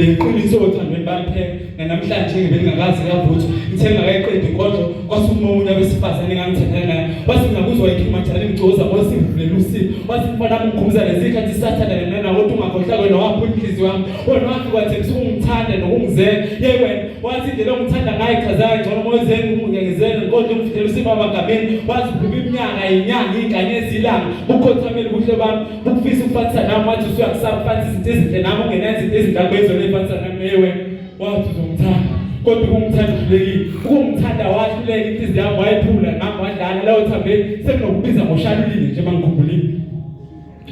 Ngiqinise othandweni bakhe namhlanje ngibengakazi kavuthi ngithe ngakayiqedi inkonzo kwasukuma umuntu abesifazane engangithandana naye wathi ngakuzwa ikhimathana imgcoza wasivulela usizi wathi mfana mngqumza lezikhathi sathanda lena nawo ukuthi ungakhohlwa kwena wapha inhliziyo yami wena wathi kwathembisa ukungithanda nokungizela ye wena wathi indlela ongithanda ngayo ichazayo ngcono moyezeni ukungengezela nkonzo umvulela usizi amagameni wazi phuma iminyaka yinyanga iy'ngane ezilanga ukukhothama ukufisa ukufanisa nami wathi usuyakusaba ufanisa izinto ezinhle nami ungenayo izinto ezinhle akwenze unefanisa nami ewe wathi uzongithanda kodwa ukumthanda uhlulekile ukumthanda wahluleka inhliziyo yami wayephula nami wadlala lawo thambeni sekunokubiza ngoshalulile nje mangikhumbulile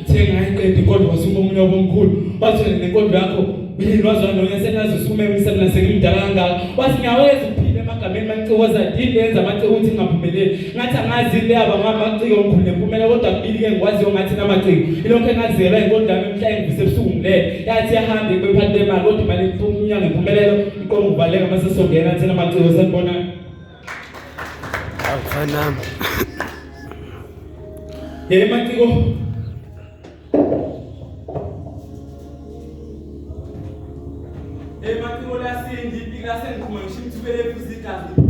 uthe ngayiqedi kodwa wasuma omunye wabomkhulu wathi nenkonzo yakho yini wazona wena senazi usukume emsebenzini ngimdala kangaka wathi ngiyaweza ukuphila egameni manicikoza yini yenza amace ukuthi ngingaphumeleli ngathi angazi le aba ngamaciko ngikhule kumele kodwa kubili ke ngikwaziyo ngathi namaciko ilokho engazelwa inkonzo yami mhla engivise ebusuku ngilele yathi yahambe kubephathi bemali kodwa imali iphuma umnyango impumelelo iqonga uvaleka uma sesongena athena amaciko senibona awufanami yele maciko Hey, Matimola, c'est une vie, c'est une connexion, tu veux les pousser, t'as vu?